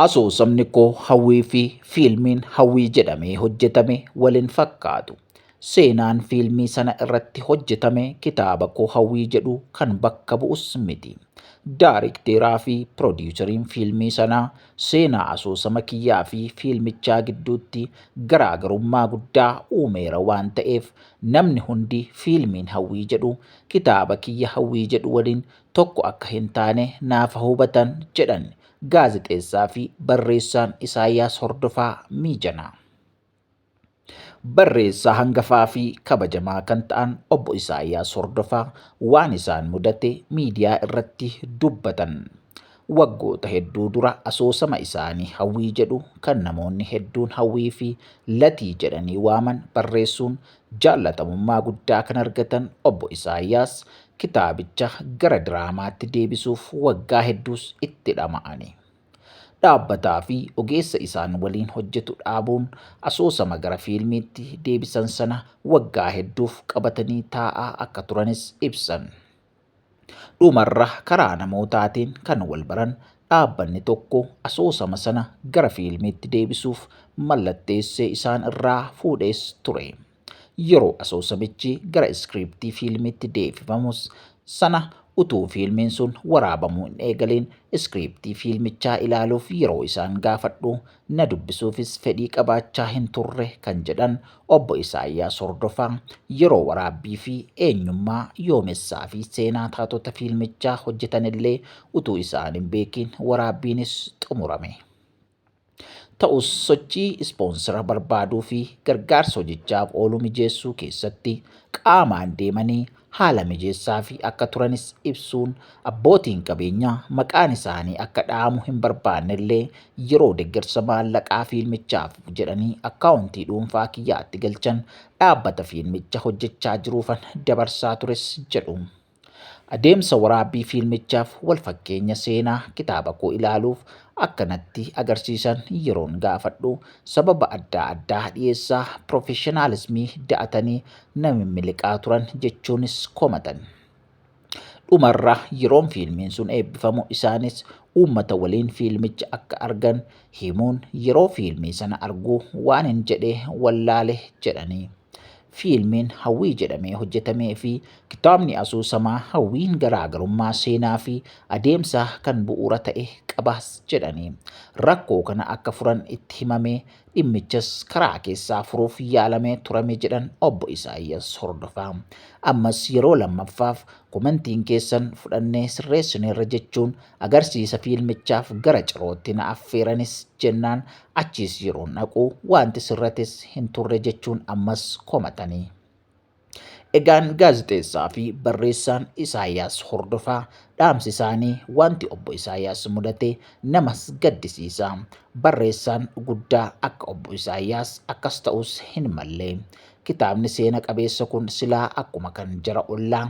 Asoosamni koo hawwii fi fiilmiin hawwii jedhamee hojjetame waliin fakkaatu. Seenaan fiilmii sana irratti hojjetame kitaaba koo hawwii jedhu kan bakka bu'us miti. Daarikteeraa fi piroodiisariin fiilmii sanaa seenaa asoosama kiyyaa fi fiilmichaa gidduutti garaagarummaa guddaa uumeera waan ta'eef namni hundi fiilmiin hawwii jedhu kitaaba kiyya hawwii jedhu waliin tokko akka hin taane naafa hubatan jedhan gaazexeessaa fi barreessaan Isaayyaas Hordofaa Miijanaa. Barreessaa hangafaa fi kabajamaa kan ta'an obbo Isaayyaas Hordofaa waan isaan mudate miidiyaa irratti dubbatan. Waggoota hedduu dura asoosama isaanii hawwii jedhu kan namoonni hedduun hawwii fi latii jedhanii waaman barreessuun Jaallatamummaa guddaa kan argatan Obbo Isaayyaas kitaabicha gara diraamaatti deebisuuf waggaa hedduus itti dhama'ani. Dhaabbataafi ogeessa isaan waliin hojjetu dhaabuun asoosama gara fiilmiitti deebisan sana waggaa hedduuf qabatanii taa'aa akka turanis ibsan. Dhumarra karaa namootaatiin kan wal baran dhaabbanni tokko asoosama sana gara fiilmiitti deebisuuf mallatteessee isaan irraa fuudhees ture. Yeroo asoosamichi gara iskiriiptii fiilmiitti deebifamus sana utuu fiilmiin sun waraabamuu hin eegaliin iskiriiptii fiilmichaa ilaaluuf yeroo isaan gaafadhu na dubbisuufis fedhii qabaachaa hin turre kan jedhan Obbo Isaayyaas Hordofaa, yeroo waraabbii fi eenyummaa, yoomessaa fi seenaa taatota fiilmichaa hojjetanillee utuu isaan hin beekiin waraabbiinis xumurame. Ta'us sochii ispoonsira barbaaduu fi gargaarsa hojichaaf oolu mijeessuu keessatti qaamaan deemanii haala mijeessaafii akka turanis ibsuun, abbootiin qabeenyaa maqaan isaanii akka dhahamu hin barbaannellee yeroo deggersa maallaqaa fiilmichaaf jedhanii akkaawuntii dhuunfaa kiyyaatti galchan dhaabbata fiilmicha hojjechaa jiruufan dabarsaa tures jedhu. Adeemsa waraabbii fiilmichaaf walfakkeenya seenaa kitaaba koo ilaaluuf akka natti agarsiisan yeroon gaafadhu sababa addaa addaa dhiyeessaa pirofeshinaalismii da'atanii na mimmiliqaa turan jechuunis komatan. Dhumarra yeroon fiilmiin sun eebbifamu isaanis uummata waliin fiilmicha akka argan himuun yeroo fiilmii sana arguu waan hin jedhee wallaale jedhanii. Fiilmiin hawwii jedhamee hojjetamee fi kitaabni asoosamaa hawwiin garaagarummaa seenaa fi adeemsaa kan bu'uura ta'e qabaas jedhanii. Rakkoo kana akka furan itti himamee Dhimmichas karaa keessaa furuuf yaalamee turame jedhan Obbo Isaayyas Hordofaa. Ammas yeroo lammaffaaf komentiin keessan fudhannee sirreessineerra jechuun agarsiisa fiilmichaaf gara cirootti na affeeranis jennaan achiis yeroon dhaqu waanti sirrates hin turre jechuun ammas komatanii. Egaan gaazexeessaa fi barreessaan Isaayyaas Hordofaa dhaamsi isaanii wanti obbo Isaayyaas mudate namas gaddisiisa. Barreessaan guddaa akka obbo Isaayyaas akkas ta'us hin malle. Kitaabni seena qabeessa kun silaa akkuma kan jara ollaa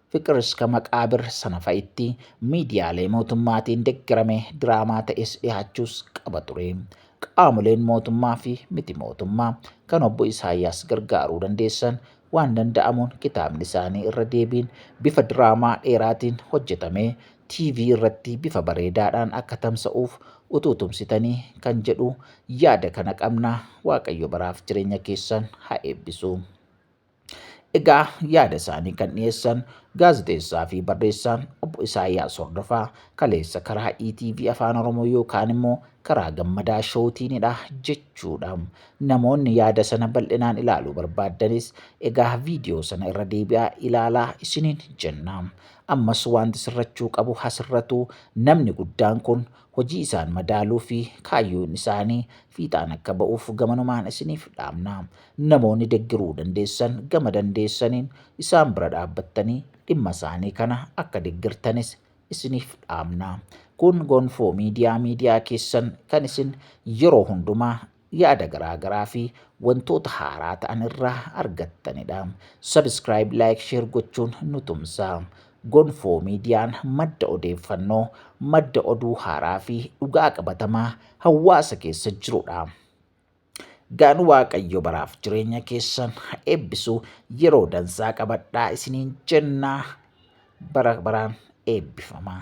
Fiqir Iska Maqaabir sana fa'itti miidiyaalee mootummaatiin deggerame diraamaa ta'es dhihaachuus qaba ture. Qaamoleen mootummaa fi miti mootummaa kan obbo Isaayyaas gargaaruu dandeessan waan danda'amuun kitaabni isaanii irra deebiin bifa diraamaa dheeraatiin hojjetamee TV irratti bifa bareedaadhaan akka tamsa'uuf utuu tumsitanii kan jedhu yaada kana qabna Waaqayyo baraaf jireenya keessan haa eebbisu. Egaa yaada isaanii kan dhiyeessan gaazexeessaa fi barreessaan obbo Isaayyaas Hordofaa kaleessa karaa ETV Afaan Oromoo yookaan immoo karaa gammadaa showtiinidha jechuudha. Namoonni yaada sana bal'inaan ilaaluu barbaaddanis egaa viidiyoo sana irra deebi'aa ilaalaa isiniin jenna. Ammas wanti sirrachuu qabu hasirratu namni guddaan kun hojii isaan madaaluu fi kaayyoon isaanii fiixaan akka ba'uuf gamanumaan isiniif dhaamna. Namoonni deggiruu dandeessan gama dandeessaniin isaan bira dhaabbattanii dhimma isaanii kana akka deggirtanis isiniif dhaamna. Kun Gonfoo Miidiyaa miidiyaa keessan kan isin yeroo hundumaa yaada garaa garaa fi wantoota haaraa ta'an irraa argattanidha. Subscribe, like, share gochuun nu tumsaa. Gonfoo miidiyaan madda odeeffannoo, madda oduu haaraa fi dhugaa qabatamaa hawaasa keessa jirudha. Gaan Waaqayyo baraaf jireenya keessan eebbisu yeroo dansaa qabadhaa isiniin jennaa bara baraan eebbifamaa.